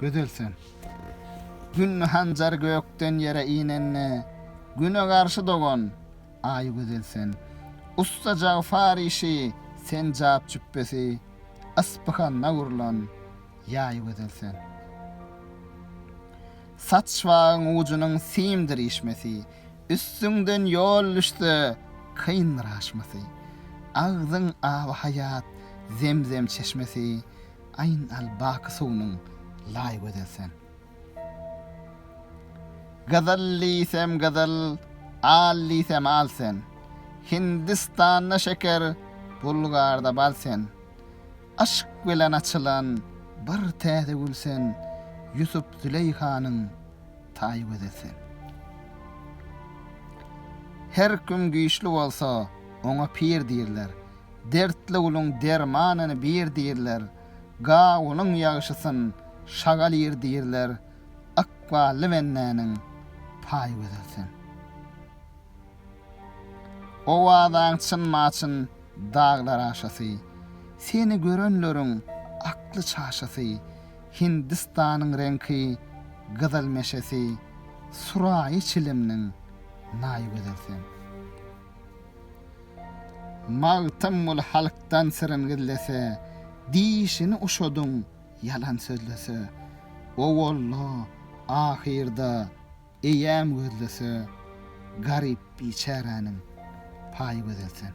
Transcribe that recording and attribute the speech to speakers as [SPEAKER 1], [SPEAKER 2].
[SPEAKER 1] Gözel sen. Gün hanjar gökden yere inende, güne garşy dogan, ay gözel sen. Usta jagfar işi, sen jap cüppesi, ıspıhanda gurlan, yay gözel sen. Saç vağın ucunun simdir işmesi, Üstüňden ýol düşse, kyn raşmasy. Agzyň awy haýat zemzem çeşmesi, Aýn al baky suwunyň laý gözel sen. Gyzyl diýsem gyzyl, al diýsem al sen, Hindistanda şeker, Bulgarda bal sen. Yşk bilen açylan bir täze gül sen, Ýusup-Züleýhanyň taý gözi sen. Her kim güýçli bolsa, oňa pir diýirler, Dertli guluň dermanyny bir diýirler, Gawunyň ýagşysyn şagal ir diýirler, Ykbally bendäniň paý gözi sen. Owazaň çynma-çyn daglar aşasy, Seni görenleriň akly çaşasy, Hindistanyň reňki gyzyl meşesi, Suraýy çilimniň naýy gözel sen. Magtymguly halkdan syryn gizlese, Dişini uşadyň ýalan sözlese, Owalda, ahyrda, Eýýäm gözlese, garyp biçäräniň paýy gözel sen.